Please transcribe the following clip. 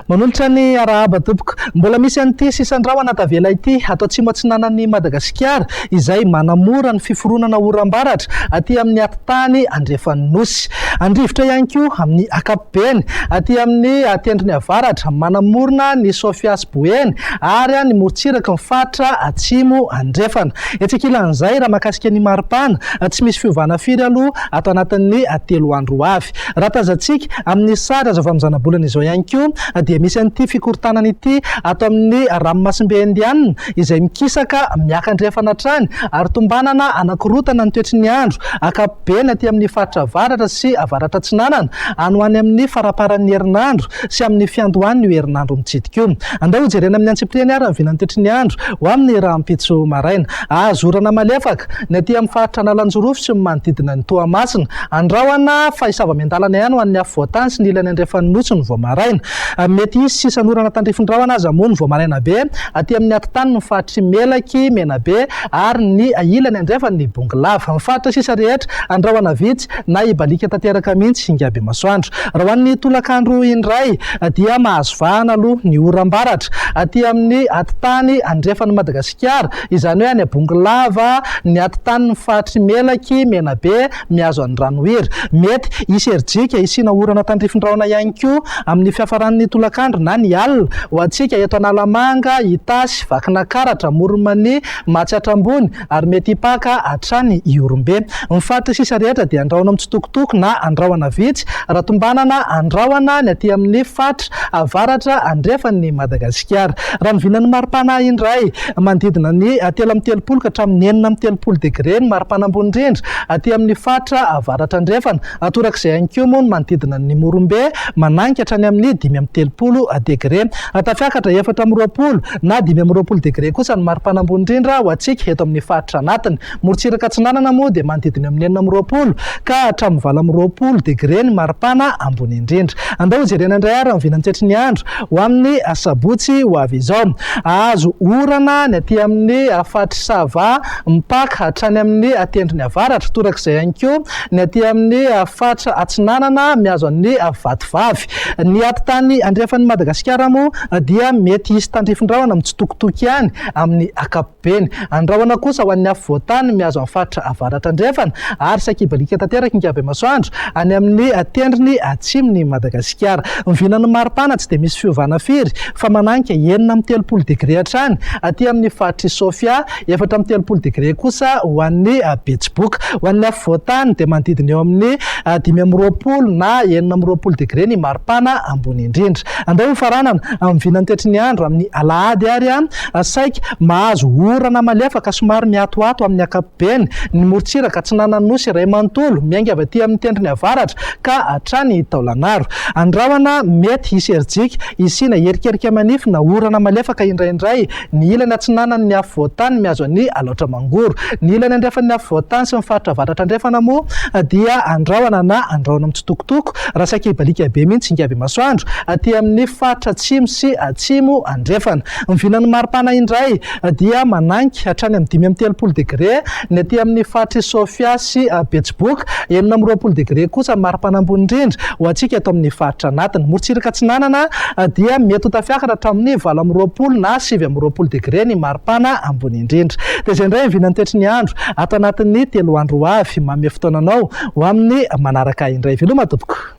Manolotra ny arahaba tompoko. Mbola misy an'ity sisan'ny rahona tavela ity ato atsimo atsinanan'i Madagasikara izay manamora ny fiforonana oram-baratra aty amin'ny atitany andrefan'ny nosy. Andrivotra ihany koa amin'ny ankapobeny aty amin'ny tendrony avaratra manamorona ny Sofia Ho eny, ary any morontsirak'i ny faritra Atsimo Andrefana. Etsy ankilan'izay, raha mahakasika ny maripana, tsy misy fiovana firy aloha ato anatin'ny telo andro ho avy. Raha tazantsika amin'ny sary azo avy amin'ny zanabolana izao ihany koa dia misy an'ity fikorontanana ity ato amin'ny ranomasimbe Indianina izay mikisaka miakandrefana hatrany ary tombanana hanakorontana ny toetry ny andro ankapobeny aty amin'ny faritra avaratra sy avaratraatsinanana any ho any amin'ny faramparan'ny herinandro sy amin'ny fiandohan'io herinandro mitsidika io. Andao hojerena amin'ny antsipiriany àry ny vinan'ny titry ny andro ho amin'ny rahampitso maraina. Azo orana malefaka ny aty amin'ny faritra Analanjirofo sy ny manodidina ny Toamasina. Andrahona fa hisava miandalana ihany ho an'ny afovoantany sy ny ilany andrefan'ny Nosy ny vao maraina. Mety hisy sisan'orana tandrify rahona aza moa ny vao maraina be aty amin'ny atitany ny faritry Melaky, Menabe ary ny ilany andrefan'ny Bongolava. Amin'ny faritra sisa rehetra, andrahona vitsy. na hibaliaka tanteraka mihitsy Ingabimasoandro. Raha ho an'ny tolakandro indray dia mahazo vahana aloha ny oram-baratra aty amin'ny atitany andrefan'i Madagasikara, izany hoe any Abongolava, ny atitanin'ny faritry Melaky, Menabe, mihazo an'Andranohiry. Mety hisy herijika hisiana orana tandrifin-drahona ihany koa amin'ny fiafaran'ny tolakandro na ny alina ho antsika eto Analamanga, Itasy, Vakinakaratra, Amoron'i Mania, Matsiatra Ambony, ary mety hipaka hatrany i Orombe. Ny faritra sisa rehetra dia andrahoina mitsitokotoko na andrahoina vitsy, raha tombanana andrahoina ny aty amin'ny faritra avaratra andrefan'i Madagasikara. Raha ny vinan'ny maripana indray, manodidina ny telo amby telopolo ka hatramin'ny enina amby telopolo degre ny maripana ambony indrindra aty amin'ny faritra avaratra andrefana, torak'izay ihany koa moa ny manodidina ny Morombe, mananika hatrany amin'ny dimy amby telopolo degre. Tafiakatra efatra amby roapolo. na dimy amby roapolo degre kosa ny maripana ambony indrindra ho antsika eto amin'ny faritra anatiny. Morontsiraka atsinanana moa dia manodidina eo amin'ny enina amby roapolo ka hatramin'ny valo amby roapolo degre ny maripana ambony indrindra. Andao hojerena indray ary ny vinan'ny toetry ny andro ho amin'ny asabotsy ho avy izao. Hahazo orana ny aty amin'ny faritr'i Sava mipaka hatrany amin'ny tendrony avaratra, torak'izay ihany koa ny aty amin'ny faritra atsinanana mihazo an'i Vatovavy. Ny ady tany andrefan'i Madagasikara moa dia mety hisy tandrifin-drahona mitsitokotoko ihany amin'ny ankapobeny. Andrahona kosa ho an'ny afo voatany mihazo an'ny faritra avaratra andrefana ary sakibalika tanteraka inkabemasoandro any amin'ny tendrony atsimon'i Madagasikara. Vinan'ny maripana tsy dia misy fiovana firy fa mananika enina amby telopolo degre hatrany aty amin'ny faritr'i Sofia Efatra amby telopolo degre kosa ho an'ny Betsiboka. Ho an'ny afovoan-tany dia manodidina eo amin'ny dimy amby roapolo na enina amby roapolo degre ny maripana ambony indrindra. Andeha ho faranana amin'ny vina antetry ny andro amin'ny alahady ary saika mahazo orana malefaka somary miatoato amin'ny ankapobeny ny morontsiraka atsinanan'ny Nosy iray manontolo miainga avy aty amin'ny tendrony avaratra ka hatrany Taolagnaro. Andrahona mety hisy herijika hisiana erikerika manify na orana malefaka indraindray Ny ilany atsinanan'ny ny afovoan-tany mihazo an' i Alaotra Mangoro. Ny ilany andrefan'ny afovoan-tany sy ny faritra avaratra-andrefana moa dia andrahona na andrahona mitsitokotoko, raha saika hibaliaka be mihitsy Ingavemasoandro, aty amin' ny faritra atsimo sy atsimo andrefana. Ny vilan'ny maripana indray dia manainga hatrany amin'ny dimy amby telopolo degre Ny aty amin'ny faritr'i Sofia sy Betsiboka, enina amby roapolo degre kosa ny mari-pana ambony indrindra ho antsika eto amin'ny faritra anatiny. Morontsiraka Atsinanana dia mety ho tafiakatra hatramin'ny valo amby roapolo na sivy amby roapolo degre ny mari-pana ambony indrindra. Dia izay indray ny vinan'ny toetry ny andro ato anatin'ny telo andro ho avy. Manome fotoana anao ho amin'ny manaraka indray. Veloma tompoko!